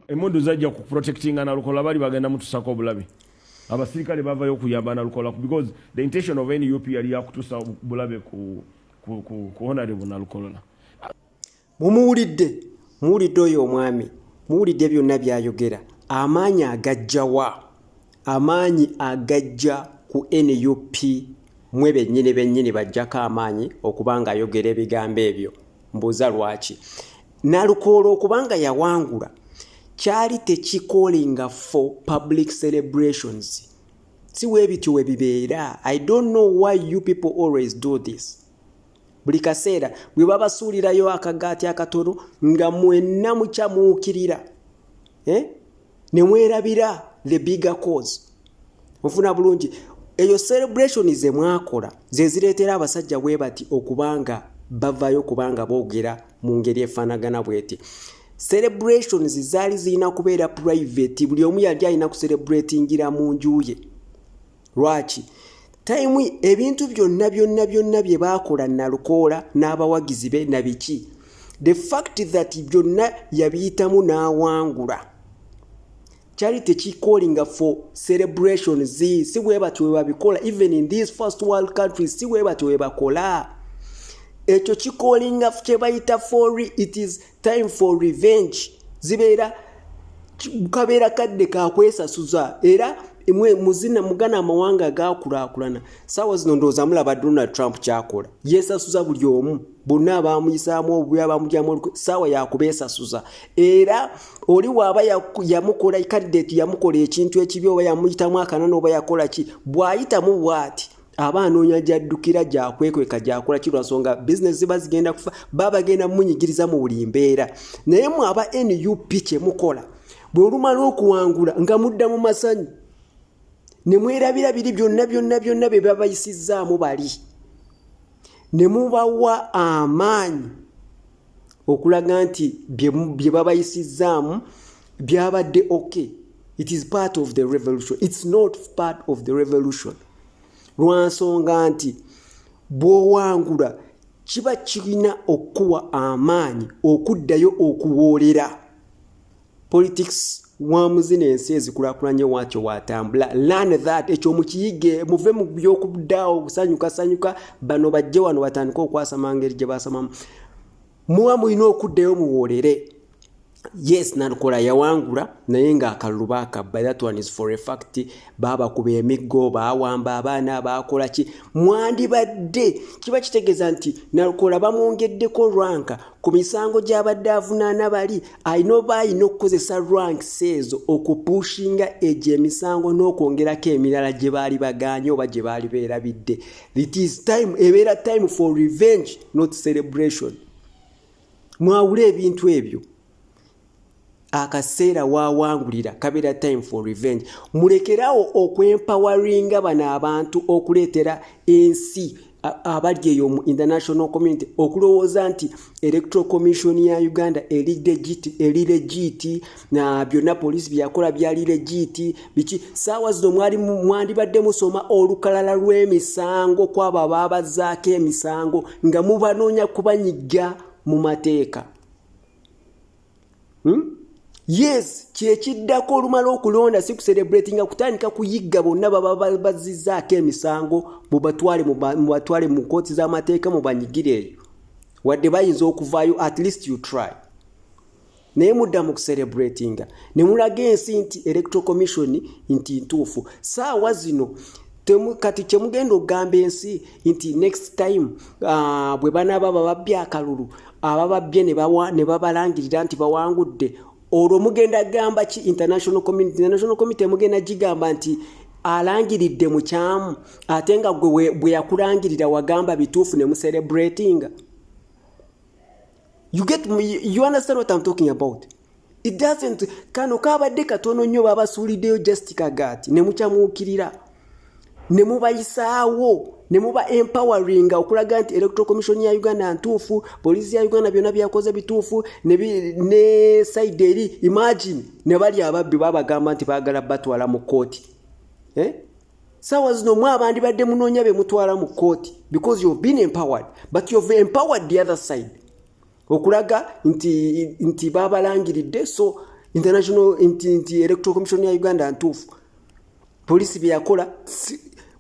emundu zajja ku protectinga nalukola bali bagenda mutusako obulabe abasirikale bavayo okuyamba nalukola because the intention of nup yali yakutusa bulabe ku, ku, ku, ku honorable nalukolola mumuwulidde muwulidde oyo omwami muwulidde byonna byayogera amaanyi agajjawa Amaanyi agajja ku nup mwe bennyini bennyini bajjako amaanyi okuba nga ayogera ebigambo ebyo mbuuza lwaki nalukoola okuba nga yawangula kyali tekikolinga for public celebrations si webityo webibeera i don't know why you people always do this buli kaseera bwe babasuulirayo akagaati akatono nga mwenna mukyamuukirira eh? ne mwerabira the bigger cause ofuna bulungi eyo celebration ze mwakola ze zireetera abasajja bwe bati okubanga bavayo kubanga boogera mu ngeri efaanagana bweti celebrations zaali zirina kubeera private buli omu yali alina kucelebratingira mu nju ye lwaki tayimu ebintu byonna byonna byonna bye baakola nalukoola n'abawagizi be na biki the fact that byonna yabiyitamu n'awangula kyali tekikolinga for celebration z si bwe batyo bwe babikola even in these first world countries si bwe batyo bwe bakola ekyo kikolinga kye bayita for it is time for revenge zibeera kabeera kadde kakwesasuza era mwe muzina mugana amawanga gakulaakulana saawa zino ndowooza mulaba donald trump kyakola yeesasuza buli omu bonna abaamuyisaamu obubi abaamugyamu oluk saawa yakubeesasuza era oli waaba yamukola kadideeti yamukola ekintu ekibi oba yamuyitamu akanana oba yakola ki bw'ayitamu bw'ati aba anoonya gyaddukira gyakwekweka gyakola ki lwansonga bizinesi ziba zigenda kufa baba bagenda munyigiriza mu buli mbeera naye mwe aba nup kyemukola bwe olumala okuwangula nga mudda mu masanyu ne mwerabira biri byonna byonna byonna bye babayisizzaamu bali ne mubawa amaanyi okulaga nti bye babayisizzaamu byabadde okay it is part of the revolution it's not part of the revolution lwansonga nti bwowangula kiba kirina okukuwa amaanyi okuddayo okuwoolera politics wamuzina ensi ezikulakulanye wakyo watambula lan that ekyo mukiyige muve mu byokudaawo kusanyuka sanyuka bano bajje wano batandika okwasama ngeri gye basamamu muba mulina okuddayo muwoolere yes nalukola yawangula naye nga akalulu bakabba that one is for a fact babakuba emiggo bawamba abaana bakola ki mwandibadde kiba kitegeeza nti nalukola bamwongeddeko rwanka ku misango gy'abadde avunaana bali alina oba alina okukozesa ranks ezo okupushinga egyo emisango n'okwongerako emirala gye baali bagaanye oba gye baali beerabidde it is time ebeera time for revenge not celebration mwawule ebintu ebyo akaseera wawangulira kabeera time for revenge mulekerawo okwempawaringa bano abantu okuleetera ensi abali eyo mu international community okulowooza nti electoral commission ya uganda eri legiti na byonna poliisi byeyakola byali legiti biki saawa zino mwali mwandibadde musoma olukalala lw'emisango kwabo abaabazaako emisango nga mubanoonya kubanyiga mu mateeka hmm? yes kyekiddako olumala okulonda si kuserebrati nga kutandika kuyigga bonna baba bazizzaako emisango mubatwale mu kooti z'amateeka mubanyigire eyo wadde bayinza okuvaayo at least you try naye mudda mu kuserebratinga ne mulaga ensi nti electoral commission nti ntuufu saawa zino kati kyemugenda okugamba ensi nti next time uh, bwe banaaba bababbi akalulu abababbye ne babalangirira nti bawangudde olwo mugenda gamba ki international community international community mugenda gigamba nti alangiridde mukyamu ate nga gwe bwe yakulangirira wagamba bituufu ne muserebratinga you get you understand what I'm talking about it doesn't kano kabadde katono nnyo babasuuliddeyo just kagaati ne mukyamuukirira ne mubayisaawo ne muba empowering okulaga nti electoral commission ya uganda ntuufu poliisi ya uganda byonna byakoze bituufu ne side eri imagine ne bali ababbi babagamba nti baagala batwala mu kkooti eh? saawa zino mwe abandibadde munoonya be mutwala mu kkooti because you've been empowered but you've empowered the other side okulaga nti nti babalangiridde so international nti nti electoral commission ya uganda ntuufu poliisi bye yakola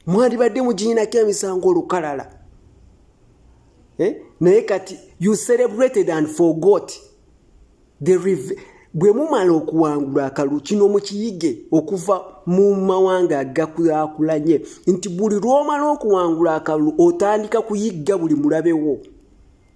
mwandibadde muginyinako emisango olukalala eh? naye kati you celebrated and forgot the bwe mumala okuwangula akalulu kino mukiyige okuva mu mawanga agakulakulanye nti buli lw'omala okuwangula akalulu otandika kuyigga buli mulabewo